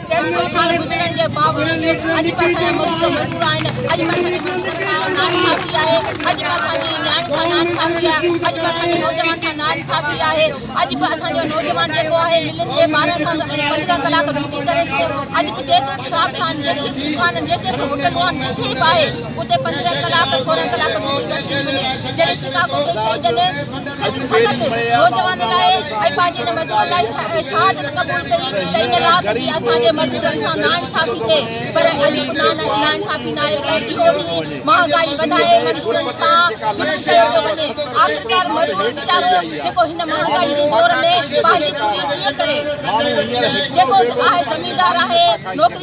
ڪيترائي سال گذرڻ جي باوجود اڄ به اسان جا مزور مزور آهن، اڄ به اسان جي مزورن کان ناڻي ٺاهبي آهي، اڄ به اسان جي نياڻين کان ناڻي ٺاهبي آهي، اڄ به اسان جي نوجوانن کان ناڻي ٺاهبي آهي، اڄ به اسان جو نوجوان جيڪو آهي ملن ۾ ٻارهن کان پندرهن ڪلاڪ ڊيوٽي ڪري ٿو، اڄ به جيڪي به شاپ سان جيڪي به دڪان جيڪي به هوٽلون آهن جتي به آهي. اتي پندرهن ڪلاڪ سورهن ڪلاڪ ڊيوٽي گڏجي ٿي وڃي جڏهن شڪاگو ۾ شهيدن فقط نوجوانن لاء ۽ پنهنجي هن مزدورن لاء شهادت قبول ڪئي ته ان رات جي اسان جي مزدورن سان ناانصافي ٿئي پر اڄ به ناانصافي ناهي ته اهو ڏينهن مهانگائي وڌائي مزدورن سان ظلم ڪيو ٿو وڃي آخرڪار مزدور ويچارو جيڪو هن مهانگائي جي دور ۾ پنهنجي پوري ڪيئن ڪري جيڪو آهي زميندار آهي نوڪري